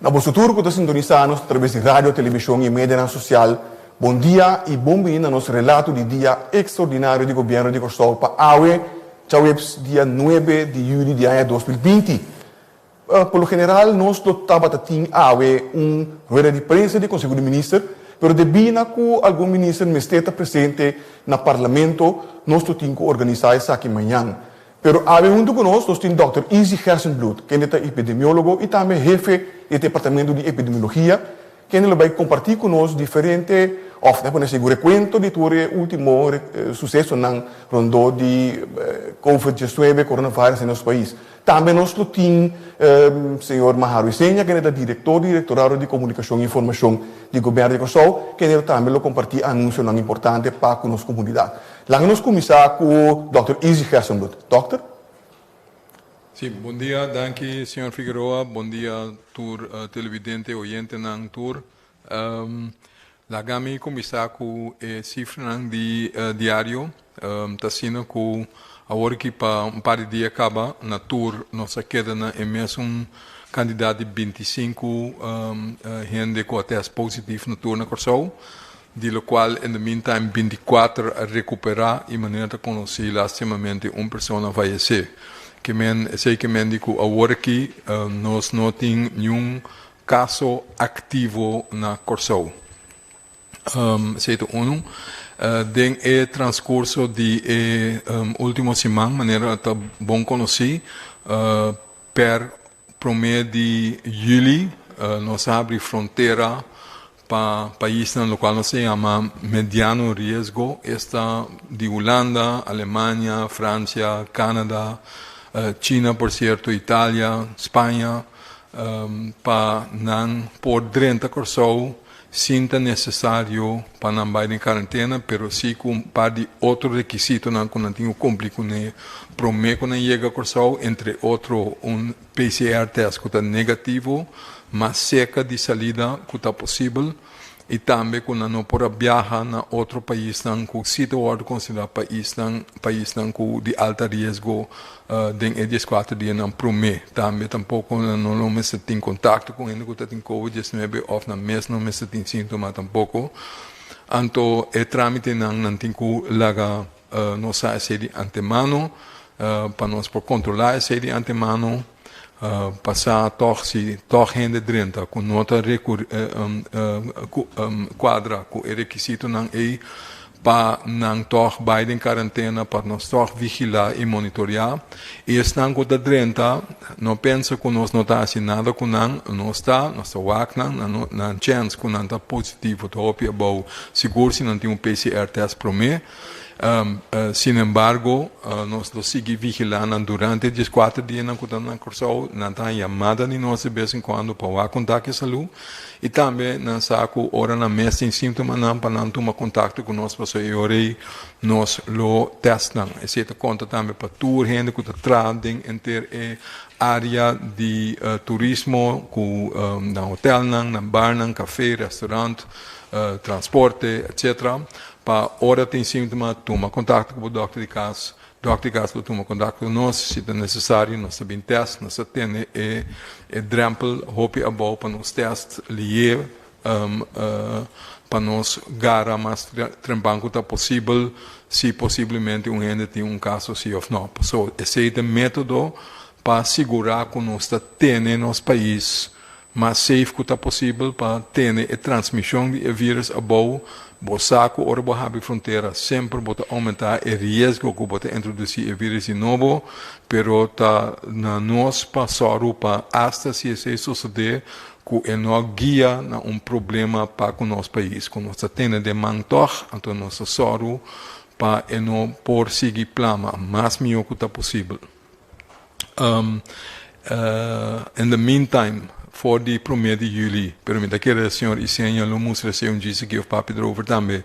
Na boso tur cu ta sintonisa nos atraves di radio, television y medianan social, bon dia y bon bini na nos relato di Dia Extraordinario di Gobierno di Corsow pa awe, djaweps dia nuebe di juli di aña dos mil binti. Por lo general nos lo tabata tin awe un rueda di prensa di Conseho di Minister, pero debí na cu algun minister mester ta presente na Parlamento, nos lo tin cu organisa esaki mañan. Pero awe huntu ku nos, nos tin Dòkter Izzy Gersenbloed, kende ta epidemiólogo i tambe hefe di e Departamento di Epidemiologia, kende lo bai kompartí ku nos diferente, òf ta pone así, ku rekuento di tur e último susesonan rondó di Covid diecinuebe, Coronavirus, den nos pais. Tambe nos lo tin señor Maharo Iseña, kende ta direktor di Direktorado di Komunikashon i Informashon di Gobièrnu di Kòrsou, kende lo tambe lo kompartí anunsionan importante pa ku nos komunidat. Laga nos kuminsá ku Dòkter Izzy Gersenbloed. Dòkter. Si, bondia, danki señor Figueroa, bondia tur televidente, oyentenan tur. Laga mi kuminsá ku e sifranan di diario, ta asina ku awor aki pa un par di dia kaba na tur nos a keda na e mesun kantidat di binti i sinku hende ku a tèst positiv na tur na Kòrsou. di lo cual in the meantime binticuater a recupera y manera ta conoci lastimamente un persona fayece ke men esey ke men di cu awor aki nos no tin niun caso activo na Corsou esey ta uno den e transcurso di e ultimo siman manera ta bon conoci per. Promé di Juli nos abri frontera pa paisnan lokual nos a yama mediano riesgo, esta di Hulanda, Alemania, Fransia, Kanada, China por sierto, Italia, Spaña, pa nan por drenta Kòrsou. Sin ta necesario pa nan bay den karantena pero si cu un par di otro requisitonan cu nan tin cu cumpli cu ne prome cu nan yega Corsou, entre otro un PCR test cu ta negativo mas seca di salida cu ta posibel y tambe cu nan no por a biaha na otro paisnan cu si ta wordo considera paisnan paisnan cu di alta riesgo. Den e dies kuater dianan promé tambe tampoko no lo mester tin kontakto ku hende ku ta tin covid diecinuebe òf nan mes no mester tin síntoma tampoko. Anto e trámitenan nan tin ku laga nos sa esei di antemano pa nos por kontrolá esei di antemano pa sa tòg si tòg hende drenta ku no ta kuadra ku e rekisitonan ei pa nan tòg bai den karantena, pa nos tòg vigilá i monitoreá. I esnan ku ta drenta, no pensa ku nos no ta hasi nada ku nan. Nos ta, nos ta wak nan. Nan chèns ku nan ta positivo ta hopi abou sigur si nan tin un PCR tèst promé. Sinembargo, nos lo sigui vigilá nan durante e dieskuater dianan ku ta nan Kòrsou. Nan ta haña yamada di nos di bes en kuando pa wak kontak e salú. I tambe nan sa ku ora nan mes tin sintomanan pa nan tuma kontakto ku nos pasobra i ora ei nos lo tèst nan. Esei ta konta tambe pa tur hende ku ta traha den enter e área di turismo ku nan hotelnan, nan barnan, kafé, restaurant, transporte, etcétera pa ora tin síntoma tuma kontakto ku bo dòkter di kas Dokterkas lo tuma kontak ku nos si ta nesesario. Nos ta bin tèst, nos ta tene e drèmpel hopi abou pa nos tèst lié pa nos gara mas trempan ku ta posibel si posiblemente un hende tin un kaso si òf nò. Pasó esei ta método pa sigurá ku nos ta tene nos pais mas safe ku ta posibel pa tene e transmishon di e vírùs abou bo sa ku ora bo habri frontera semper bo ta oumentá e riesgo ku bo ta introdusí e vírùs di nobo, pero ta na nos pa sòru pa asta si esei sosodé ku e no guia na un problema pa ku nos pais ku nos ta tene den man tòg, anto nos ta sòru pa e no por sigui plama mas mihó ku ta posibel. Um, uh, in the meantime, voor die premier di juli, pero mi ta kere señor Iseña lo moest recibe un GCK of papi erover tambe.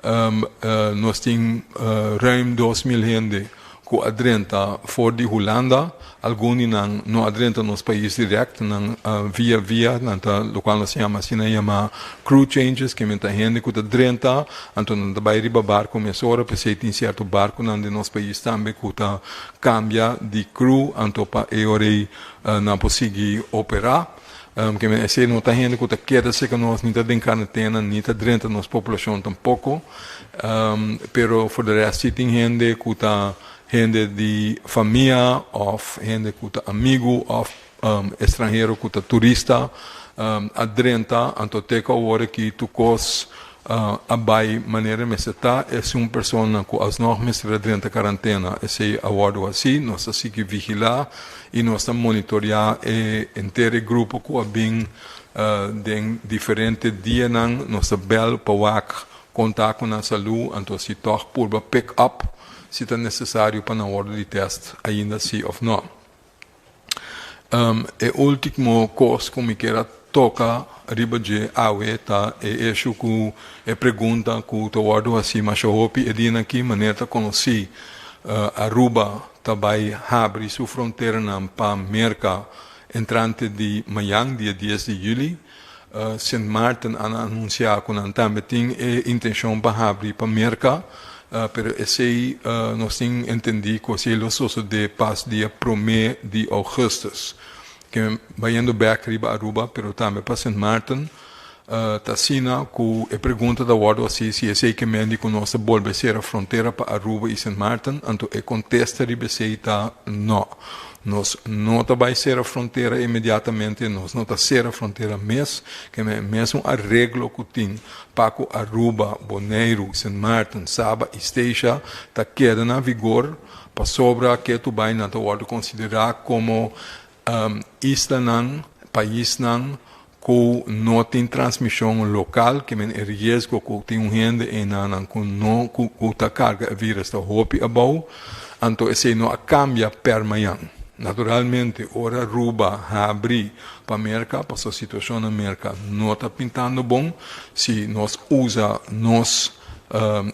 Um, uh, nos tin uh, ruim 2000 hende ku adrenta voor di Hulanda, algun di nan no adrenta nos país direct, nan uh, via via, nan ta, lo cual nos llama así, nan llama crew changes, que men ta hende ku ta drenta, anto nan ta bai riba barco mesora, pesei tin cierto barco nan di nos país tambe ku ta Cambia di crew anto pa eorei nan por sigui opera. Kende esey no ta hende cu ta keda cerca nos ni ta den carentena ni ta drenta nos populacion tampoco. Pero for de rest si tin hende cu ta hende di famia of hende cu ta amigo of. estranhero ku ta turista a drenta anto te ku awor aki tur kos a bai manera e mester ta, es un persona ku alsnòg mester a drenta karantena. Esei a wòrdu hasi, nos ta sigui vigilá i nos ta monitoreá e henter e grupo ku a bin den diferente dianan, nos ta bèl pa wak konta ku nan salú anto si tòg purba pick-up si ta nesesario pa nan wòrdu di tèst ainda si òf nò. Um, e ultimo cos cu mi kier a toca riba dje awe ta e eshu cu e pregunta cu ta wordo haci masha hopi e dia na ki maner ta conoci uh Aruba ta bay habri su fronteranan pa Merca entrante di mayan dia dies di juli. Sint Maarten a anunsiá ku nan tambe tin e intenshon pa habri pa Merka, pero esei nos tin entendí ku esei lo sosodé pas dia promé di ougùstùs. Ke bayendo bèk riba Aruba, pero tambe pa Sint Maarten, ta asina ku e pregunta ta wòrdu hasi si esei ke mendi ku nos ta bolbe sera frontera pa Aruba i Sint Maarten, anto e kontesta riba esei ta nò. Nos no ta bai sera frontera inmediatamente, nos no ta sera frontera mes, keme mes un areglo ku tin pa ku Aruba, Boneiru, Sint Maarten, Saba i Statia ta keda na vigor, pasobra ke tubainan ta wòrdu konsiderá komo islanan, paisnan ku no tin transmishon lokal, ke men e riesgo ku tin un hende einan nan ku no ku ku ta karga e virus ta hopi abou, anto esei no a kambia pèr mañan. Naturalmente, ora Ruba habri pa Merka, pasobra situashon na Merka no ta pintando bon si nos usa nos.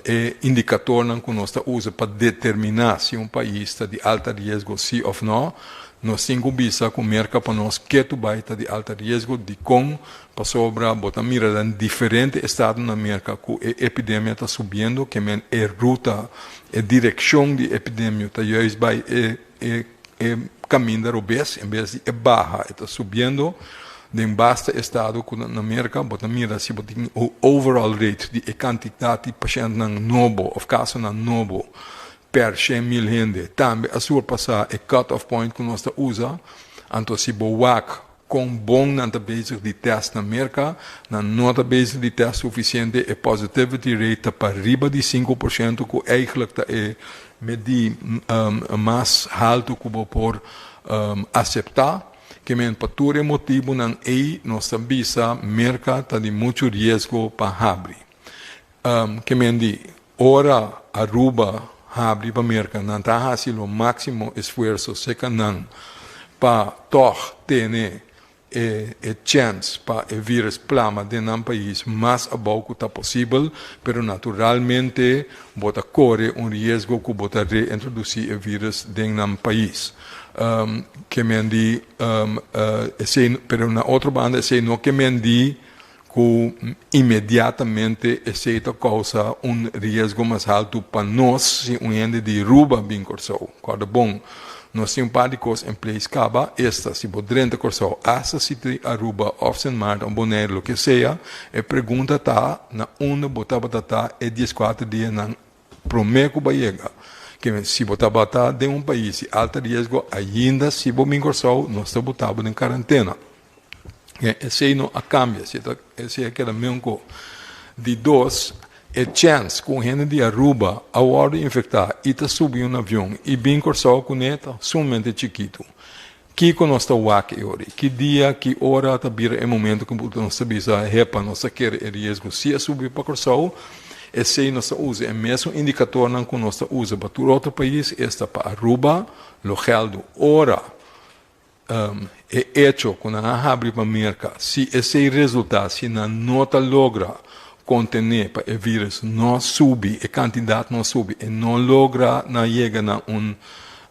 E indikatornan ku nos ta usa pa determiná si un pais ta di alta riesgo sí òf nò. Nos tin ku bisa ku merka pa nos ke tu bai ta di alta riesgo, dikon, pasobra bo ta mira den diferente estado na Merka ku e epidemia ta subiendo, ke men e ruta, e direkshon di epidemio ta juis bai e E e caminda robes en vez di e baha e ta subiendo den basta estado cu na Merca bo ta mira si bo tin e overall rate di e cantidad di pacientenan nobo of casonan nobo per shen mil hende tambe a surpasa e cut off point cu nos ta usa anto si bo wak Kon bon nan ta bezig di tèst na Merka? Nan no ta bezig di tèst sufisiente, e positivity rate ta pariba di sinku por shento ku eihglik ta e medí mas haltu ku bo por aseptá. Kemen pa tur e motibunan ei nos ta bisa Merka ta di muchu riesgo pa habri. Ke men di, Ora Aruba habri pa Merka, nan ta hasi lo máksimo esfuerso seka nan pa tòg tene e chèns pa e vírùs plama den nan pais mas abou ku ta posibel, pero naturalmente bo ta kore un riesgo ku bo ta reintrodusí e vírùs den nan pais. Ke men di, esei, pero na otro banda esei no ke men di. cu inmediatamente esey ta causa un riesgo mas haltu pa nos si un hende di Ruba bin Corsou. Corda bon, nos tin un par di cos en place caba, esta, si bo drenta Corsou hasta siti di Aruba of Sint Maarten of Bonaire loke sea, e pregunta ta na unda bo tabata ta e diescuater dianan prome cu bo a yega? Kende si bo tabata den un pais di alta riesgo ainda si bo bin Corsou nos ta botabo den carantena. Esey no a cambia, esey a keda meun ko. Di dos, e chance ku un hende di Aruba a wordo infecta y ta subi un avion y bin Corsou kuné ta sumamente chikitu. Kiko nos ta wak e ori? Ki dia, ki ora ta bira e momento ku bulto nos ta bisa, Hepa, nos ta kere e riesgo si a subi pa Corsou? Esey nos ta usa e mesun indicatornan ku nos ta usa pa tur otro pais, esta pa Aruba lo geldo ora e echo cu nan a habri pa Merca, si esey resulta si nan no ta logra contene pa e virus no subi, e cantidad no subi, e no logra na yega na un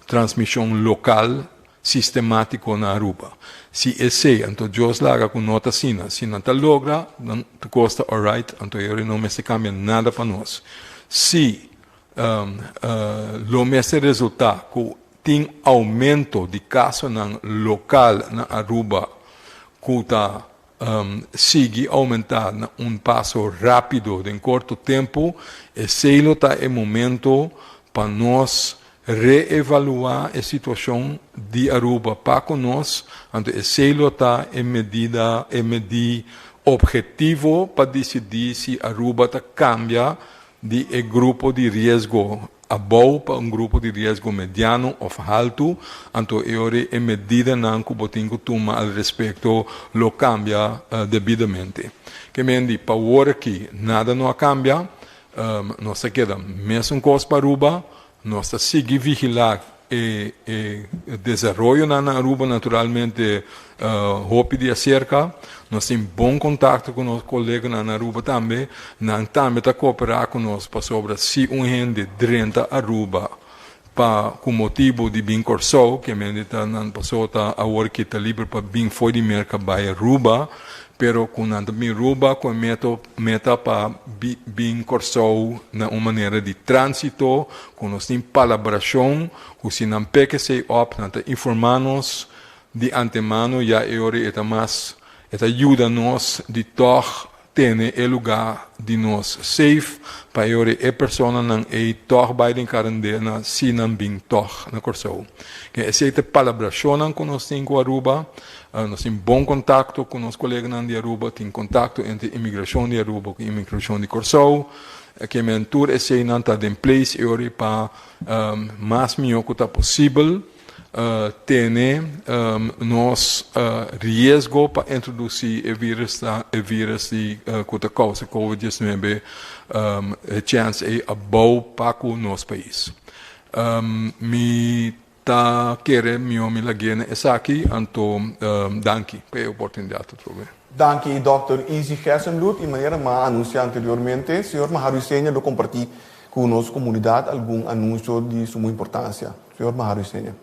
transmision local sistematico na Aruba. Si esey, anto Dios laga cu no ta asina, si nan ta logra, dan tur cos ta alright, anto e hora no mester cambia nada pa nos. Si lo mester resulta cu Tin aumento di casonan local na Aruba cu ta sigui aumenta na un paso rapido den corto tempo. Esey lo ta e momento pa nos reevalua e situacion di Aruba pa cu nos, anto esey lo ta e medida, e medi objetivo pa dicidi si Aruba ta cambia di e grupo di riesgo abou pa un grupo di riesgo mediano of haltu, anto e ora e medidanan ku bo tin ku tuma al respekto lo kambia debidamente. Ke men di pa wor aki nada no a kambia, nos ta keda mesun kos pa Aruba, Nos ta sigui vigilá e desaroyonan na Aruba, naturalmente hopi di aserka. Nos tin bon kontakto ku nos koleganan na Aruba tambe. Nan tambe ta kooperá ku nos pasobra si un hende drenta Aruba pa ku motibu di bin Kòrsou, kiamente ta nan pasó ta awor ki ta liber pa bin for di Merka bai Aruba, pero ku nan ta bin Aruba ku e meto Meta pa bin Kòrsou na un manera di tránsito ku nos tin palabrashon ku si nan pek esei òf nan ta informá nos di antemano ya e ora e ta mas e ta yuda nos di tòg tene e lugá di nos seif pa e ora e personanan ei tòg bai den karandena si nan bin tòg na Kòrsou. Esei ta palabrashonnan ku nos tin ku Aruba Nos tin bon kontakto ku nos koleganan di Aruba, tin kontakto entre Imigrashon di Aruba ku Imigrashon di Kòrsou. Kemen tur eseinan ta den place e ora ei pa mas mihó ku ta posibel tene nos riesgo pa introdusí e vírus ta e vírus di ku ta kousa covid diecinuebe e chèns ei a bou paku nos pais. Mi Ta kere mihó mi lag'é na esaki, anto danki pa e oportunidad atrobe. Danki Dòkter Easy Gersembloed y manera m'a anunsiá anteriormente, Señor Maharu Isenia lo kompartí ku nos komunidad algun anunsio di sumo importansia. Señor Maharu Isenia.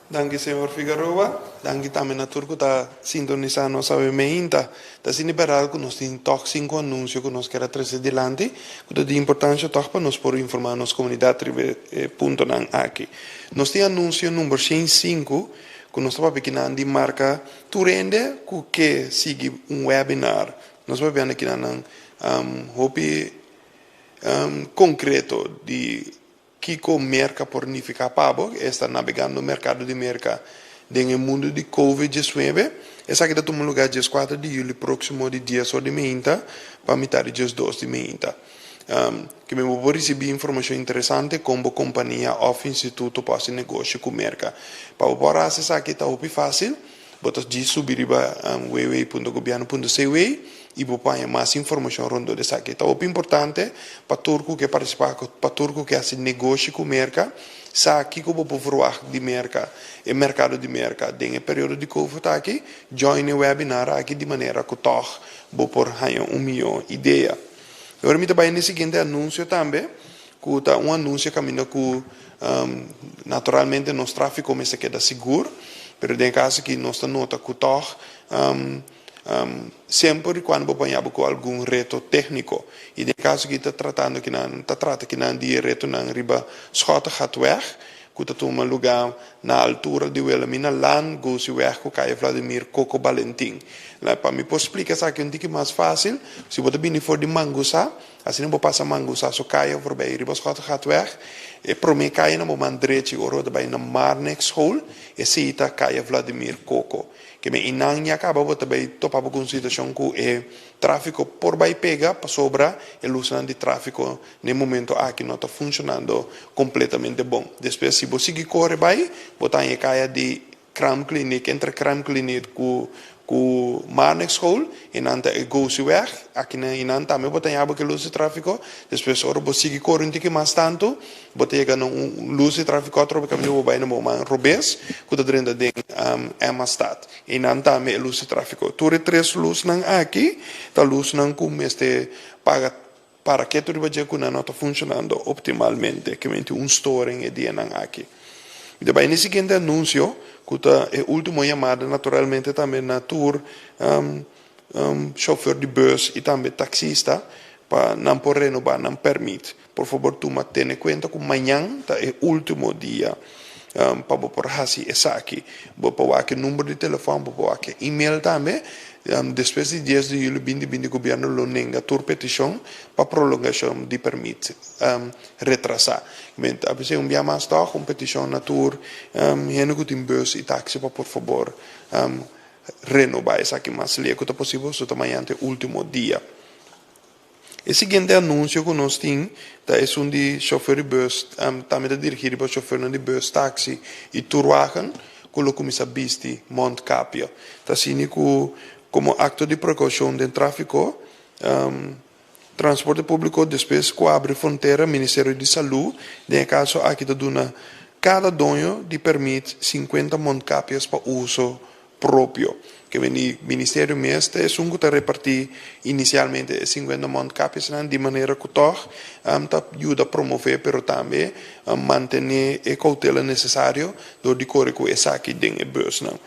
Danki Señor Figaroa. Danki tambe na tur ku ta sintonisá nos awe meinta. Ta asina e berdad ku nos tin tòg sinku anunsio ku nos kier a trese dilanti ku ta di importansha tòg pa nos por informá nos komunidat riba e puntonan aki. Nos tin anunsio number shen i sinku ku nos ta papia kinan di marka tur hende ku ke sigui un webinar. Nos ta papiando kinanan hopi konkreto di Kiko Merka por nifiká pa bo? Esta nabegando merkado di Merka den e mundu di Covid diesnuebe. Esaki ta tuma lugá dies kuater di yuli próksimo di dies or di meinta pa mitar di dies dos di meinta. Kimin bo por risibí informashon interesante kon bo kompania òf instituto por hasi negoshi ku Merka. Pa bo por hasi esaki ta hopi fásil. Bo ta djis subi riba www.gobierno.cw y bo paña mas informacion rondó esaki. Ta hopi importante pa tur cu ke participa, pa tur cu ke haci negoshi cu Merca, sa kico bo por verwacht di Merca, e mercado di Merca den e periodo di Covid aki. Join e webinar aki di manera cu tog bo por haña un mijo idea. Awor mi ta bay na e siguiente anuncio tambe. Cu ta un anuncia caminda cu naturalmente nos trafico mester keda sigur, pero den e caso aki nos ta nota cu tog semper y cuando bo baña bo cu algun reto tecnico y den e caso aki ta tratando ki nan ta trata ki nan di e retonan riba Schottegatweg cu ta tuma luga na altura di Wilhelmina Laan Gooseweg cu Calle Vladimir Coco Balentin. La pa mi por splica esaki un tiki mas facil, si bo ta bini for di Mangusá Asina bo pasa mangu sa so kaya voorbij riba Schotelgatweg. E prome kaya na bo man drechi ora bo ta bai na Marnix School, esei ta kaya Vladimir Coco. Keme einan ya kaba bo ta bai topa bo ku un situashon ku e trafiko por bai pega pasobra e lusnan di trafiko n'e momento aki no ta funshonando kompletamente bon. Despues si bo sigui kore bai bo ta haña e kaya di Kraamkliniek entre Kraamkliniek ku ku Marnix school y nan ta e Goosey weg aki nan y nan tambe bo ta yabe ke luz di trafiko despues ora bo sigui kore un tiki mas tanto bo ta yega na un luz di trafiko otro bo camino bo bay na bo man robes ku ta drenta den Emma stad y nan tambe e luz di trafiko tur e tres luz nan aki ta luz nan ku mester paga Para ketu riba dje ku nan no ta funshonando optimalmente, ke menti un storing e dianan aki. Mi ta bai na e siguiente anunsio, ku ta e ultimo yamada naturalmente tambe na tur shofèr di bùs i tambe taksista pa nan por renobá nan pèrmit. Por fabor tuma tene kuenta ku mañan ta e ultimo dia. pa bo por hasi esaki. Bo por wak e number di telefòn, bo por wak e email tambe. Despues di dies di julio bindi bindi Gobierno lo nenga tur petishon pa prolongashon di permit retrasá. Kib'e abecé un bia mas tòg un petishon na tur hende ku tin bùs i taksi pa por fabor renobá esaki mas lihé ku ta posibel, su ta mañante último dia. E siguiente anuncio cu nos tin ta esun di chauffeur di bus, tambe ta dirigi riba chauffeurnan di bus, taxi y turwagen cu lo cuminsa bisti mondkapje. Ta asina cu como acto di precaucion den trafico, Transporte Publico despues cu a abri frontera, Ministerio di Salud den e caso aki ta duna cada doño di permit cincuenta mondkapjes pa uso propio ke veni ministerio mes ta esun ku ta reparti inisialmente e singuenta mondkapjesnan di manera ku tòg ta yuda promove pero tambe mantené e koutela nesesario dor di kore ku esaki den e bùsnan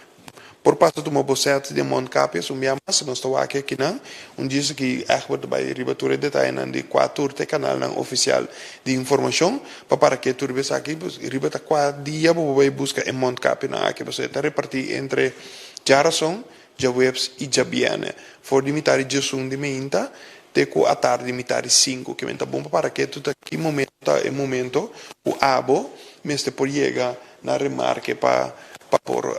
por pasa tuma bosèt di e mondkapjes un bia mas nos ta wak akinan un djis aki Egbert ta bai riba tur e detayenan di kua tur ta e kanalnan ofisial di informashon. Pa para ke tur besaki pues riba ta kua dia bo bo bai buska e mondkapnan aki pasobra e ta reparti entre djarason, djaweps i djabierne for di mitadi djasun di meinta te ku atardi mitadi sinku kimen ta bon pa para ke tur ta ki momento ta e momento ku abo mester por yega na remarke pa pa por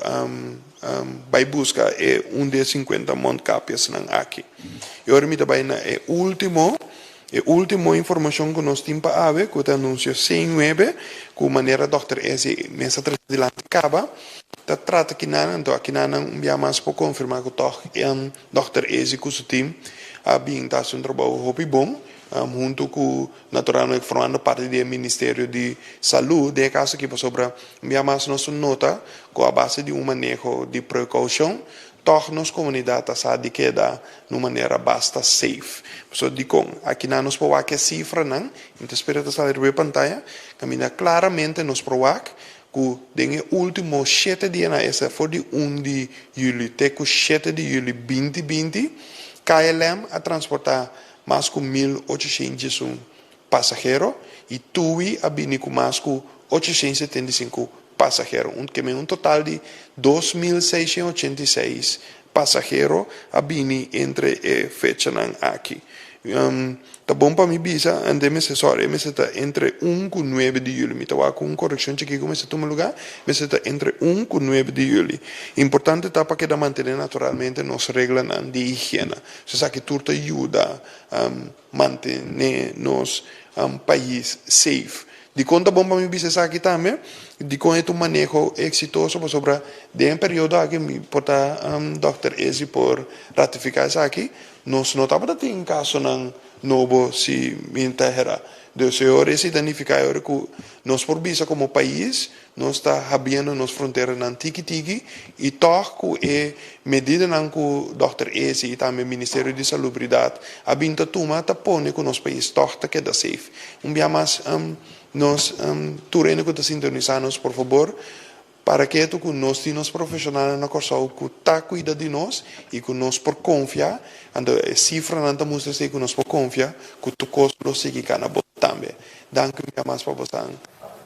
bai buska e un di e sinkuenta mondkapjesnan aki i ora mi ta bai na e ultimo E ultimo informacion cu nos tin pa awe, cu ta anuncia Seen Nuebe, cu manera Dokter Eze mes a traci dilanti caba, ta trata kinan, anto aki nan nan un bia mas por confirma cu tog Dokter Eze cu su team a bin ta haci un trabou hopi bon, hunto cu natural nos formando parti di e Ministerio di Salud den e caso aki, pasobra un bia mas nos nota cu a base di un maneho di precaucion Tòg nos komunidat a sa di keda na un manera basta safe. Pasobra dikon? Aki nan nos por wak e sifranan, i mi ta spera ta sali riba e pantaya, kaminda klaramente nos por wak ku den e último shete dia nan esei for di un di yuli te ku shete di yuli binti binti, KLM a transportá mas ku mil ochocientos y un pasahero y Tui a bini cu mas cu ochociensetentaisinku pasahero. Un keme un total di dos mil seishen ochenta y seis pasahero a bini entre e fechanan aki. Ta bon pa mi bisa ande mester sorry mester ta entre un cu nuebe di juli. Mi ta wak cu un coreccion chiki cu mester tuma lugar, mester ta entre un cu nuebe di juli. Importante ta pa keda mantene naturalmente nos reglanan di higiena. So esaki tur ta yuda. Mantene nos pais safe. Dikon ta bon pa mi bisa esaki tambe? Dikon e ta un maneho eksitoso? Pasobra den e periodo aki, mi por ta dòkter Ezzi por ratifiká esaki, nos no tabata tin kasonan nobo si mi ta hera. Dus e ora esei ta nifiká e ora ku nos por bisa komo pais, Nos ta habiendo nos fronteranan tiki tiki y tog cu e medidanan cu Dòkter Ezi y tambe Ministerio di Salubridad a bin ta tuma ta pone cu nos pais tog ta keda safe. Un bia mas nos tur hende cu ta sintonisa nos por fabor para ketu cu nos tin nos profesionalnan na Corsou cu ta cuida di nos y cu nos por confia, anto e cifranan ta mustra esey cu nos por confia cu tur cos lo sigui cana bo tambe. Danki mia mas pa bosan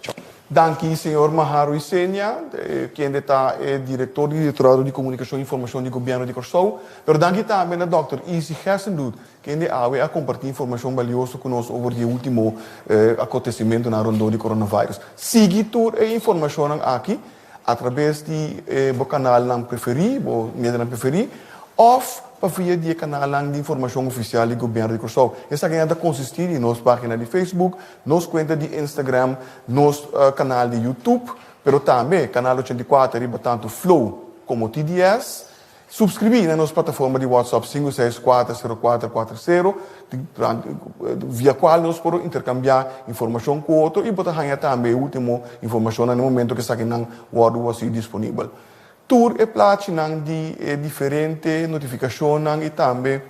Chong. Danki señor Maharo y Senia, kende ta e director di Directorado di Comunicacion y Informacion di Gobierno di Corsow. Pero danki tambe na Dòkter Easy Gessendoet, kende awe a comparti informacion balioso cu nos over di e ultimo acontecimentonan rondó di coronavirus. Sigui tur e informacionan aki. a trabes di e bo kanalnan preferí, bo medianan preferí, òf pa via di e kanalnan di informashon ofisial di Gobièrnu di Kòrsou. Esaki nan ta konsistí di nos página di Facebook, nos kuenta di Instagram, nos kanal di Youtube, pero tambe kanal ochenta i kuater riba tantu Flow komo TDS. Supskribí na nos plataforma di WhatsApp sinku seis kuater sero kuater kuater sero, di via kual nos por interkambiá informashon ku otro i bo ta haña tambe e último informashonnan den momentu ku esakinan wòrdu wòsí disponibel. Tur e plachinan di e diferente notifikashonnan i tambe.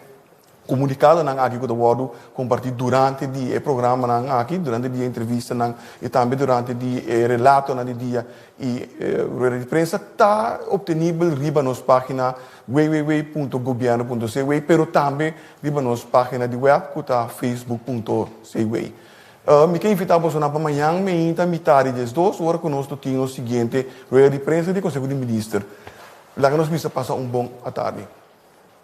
Komunikadonan aki ku ta wòrdu kompartí durante di e programanan aki, durante di e entrevistanan i tambe durante di e relatonan di dia i rueda di prensa ta optenibel riba nos página www.gobierno.cw pero tambe riba nos página di wèp ku ta facebook.cw. Mi ta invitá bosonan pa mañan meinta mitadi di es dos ora ku nos lo tin nos siguiente rueda di prensa di Konseho di Minister. Laga nos bisa pasa un bon atardi.